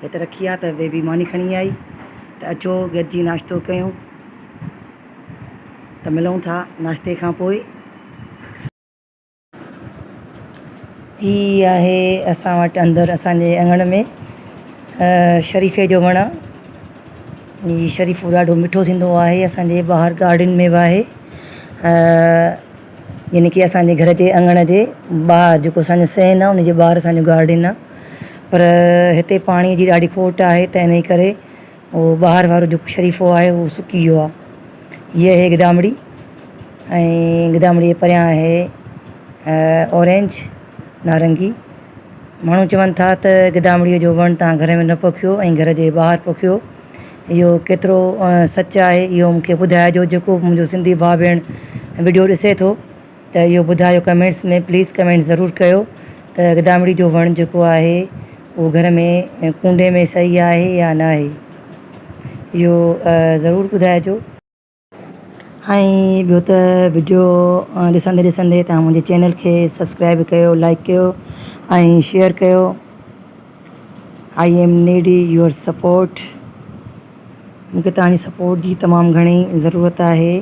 هت رکي آ ته بيبي ماني کڻي آئي ته اچو گڏجي ناشتو ڪيون ته ملون ٿا ناشتي کان پوء. هي آهي اسان وٽ اندر اسان جي اڱڻ ۾ شريفي جو وڻ هي شريفو ڏاڍو مٺو ٿيندو آهي اسان جي ٻاهر گارڊن ۾ به آهي يعني ڪي اسان جي گهر جي اڱڻ جي ٻاهر جيڪو اسان جو سين آ ان جي ٻاهر اسان جو گارڊن آ. پر هتي پاڻي جي ڏاڍي کوٽ آهي ته انهي ڪري اهو ٻاهر وارو جيڪو شريفو آهي اهو سڪي ويو آهي. هيء آهي گدامڙي ۽ گدامڙي جي پريان آهي اورينج، نارنگي. ماڻهو چون ٿا ته گدامڙي جو وڻ توهان گهر ۾ نه پوکيو ۽ گهر جي ٻاهر پوکيو. اهو ڪيترو سچ آهي اهو مون کي ٻڌائجو جيڪو به منهنجو سنڌي ڀاء ڀيڻ وڊيو ڏسي ٿو. ته اهو ٻڌايو ڪمينٽس ۾ پليز ڪمينٽ ضرور ڪيو ته گدامڙي جو وڻ جيڪو آهي اهو گهر ۾ ڪونڊي ۾ صحيح آهي يا نه آهي اهو ضرور ٻڌائجو. ۽ ٻيو ته وڊيو ڏسندي ڏسندي تهان منهنجي چينل کي سبسڪرائب ڪيو لائڪ ڪيو ۽ شيئر ڪيو. I am need your support مون کي توهان جي سپورٽ جي تمام گهڻي ضرورت آهي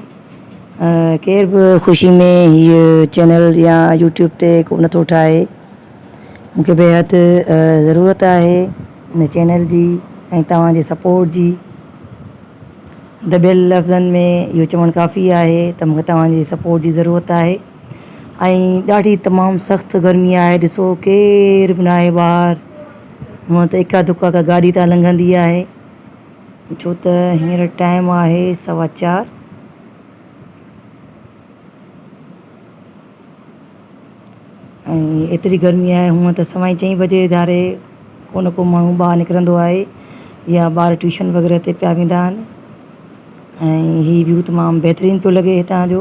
ڪير به خوشي ۾ هي چينل يا يوٽيوب تي ڪو نٿو ٺاهي مون کي بيحد ضرورت آهي ان چينل جي ۽ توهان جي سپورٽ جي دٻيل لفظن ۾ اهو چوڻ ڪافي آهي ته مون کي توهان جي سپورٽ جي ضرورت آهي ۽ ڏاڍي تمام سخت گرمي آهي ڏسو ڪير به ناهي ٻاهر هونئن ته اڪا دڪا ڪا گاڏي تان لنگهندي آهي ڇو ته هينئر ٽائيم آهي سوا چار ۽ ايتري گرمي آهي هونئن ته سوائين چئين بجي ڌاري ڪو نه ڪو ماڻهو ٻاهر نڪرندو آهي يا ٻار ٽيوشن وغيره تي پيا ويندا آهن ۽ هي ويو تمام بهترين پيو لڳي هتان جو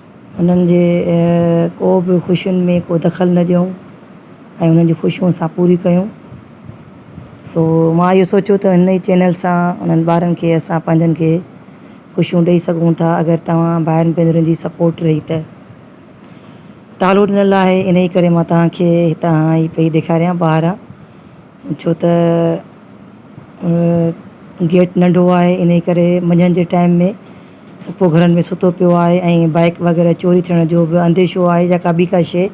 انهن جي ڪو به خوشين ۾ ڪو دخل نه ڏيون ۽ انهن جون خوشيون اسان پوريون ڪيون سو مان اهو سوچيو ته ان ئي چينل سان انهن ٻارن کي اسان پنهنجن کي خوشيون ڏئي سگهون ٿا اگر توهان ڀائرن ڀينرن جي سپورٽ رهي ته تعالو ڏنل آهي انهي ڪري مان توهان کي هتان هي پئي ڏيکاريان ٻاهران ڇو ته گيٽ ننڍو آهي انهي ڪري منجهند جي ٽائيم ۾ سڀڪو گهرن ۾ ستو پيو آهي ۽ بائڪ وغيره چوري ٿيڻ جو به انديشو آهي يا ڪا ٻي ڪا شيء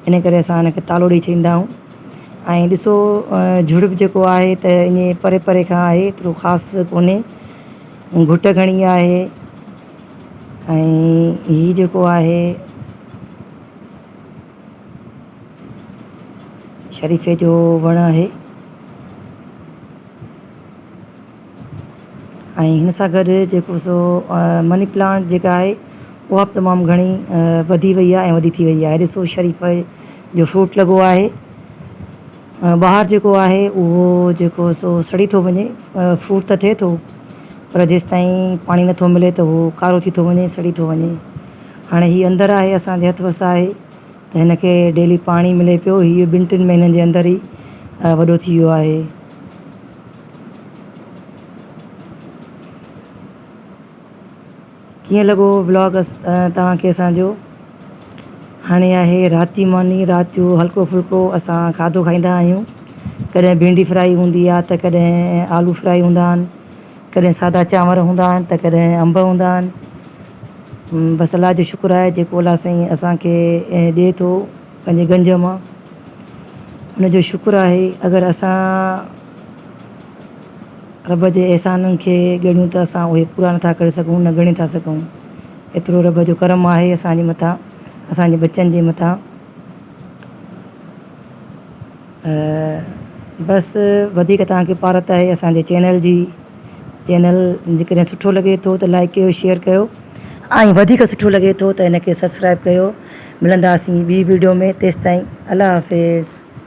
انهي ڪري اسان ان کي تالو ڏئي ڇڏيندا آهيون ۽ ڏسو جهڙپ جيڪو آهي ته انهي پري پري کان آهي ايترو خاص ڪونهي گهٽ گهڻي آهي ۽ هي جيڪو آهي شريفي جو وڻ آهي ۽ هن سان گڏ جيڪو سو مني پلانٽ جيڪا آهي اها بि تمام گهڻي وڌي وئي آهي ۽ وڏي ٿي وئي آهي ڏسو شريفي جو فروٽ لڳو آهي ٻاهر جيڪو آهي اهو جيڪو سو سڙي ٿو وڃي فروٽ ته ٿئي ٿو پر جيسين تائين پاڻي نٿو ملي ته اهو ڪارو ٿي ٿو وڃي سڙي ٿو وڃي هاڻي هي اندر آهي اسان جي هٿ وس آهي ته هن کي ڊيلي پاڻي ملي پيو هي ٻن ٽن مهينن جي اندر ئي وڏو ٿي ويو آهي. ڪيئن لڳو ولاگ توهان کي اسان جو هاڻي آهي رات جي ماني رات جو هلڪو ڦلڪو اسان کاڌو کائيندا آهيون ڪڏهن ڀينڊي فرائي هوندي آهي ته ڪڏهن آلو فرائي هوندا آهن ڪڏهن سادا چانور هوندا آهن ته ڪڏهن انب هوندا آهن. بس الله جو شڪر آهي جيڪو الله سائين اسان کي ڏي ٿو پنهنجي گنج مان ان جو شڪر آهي اگر اسان رب جي احسانن کي ڳڻيون ته اسان اهي پورا نٿا ڪري سگهون نه ڳڻي ٿا سگهون ايترو رب جو ڪرم آهي اسان جي مٿان اسان جي ٻچن جي مٿان. بس وڌيڪ توهان کي پارت آهي اسان جي چينل جي چينل جي ڪڏهن سٺو لڳي ٿو ته لائڪ ڪيو شيئر ڪيو ۽ وڌيڪ سٺو لڳي ٿو ته ان کي سبسڪرائب ڪيو ملنداسين ٻي ويڊيو ۾ تيستائين الله حافظ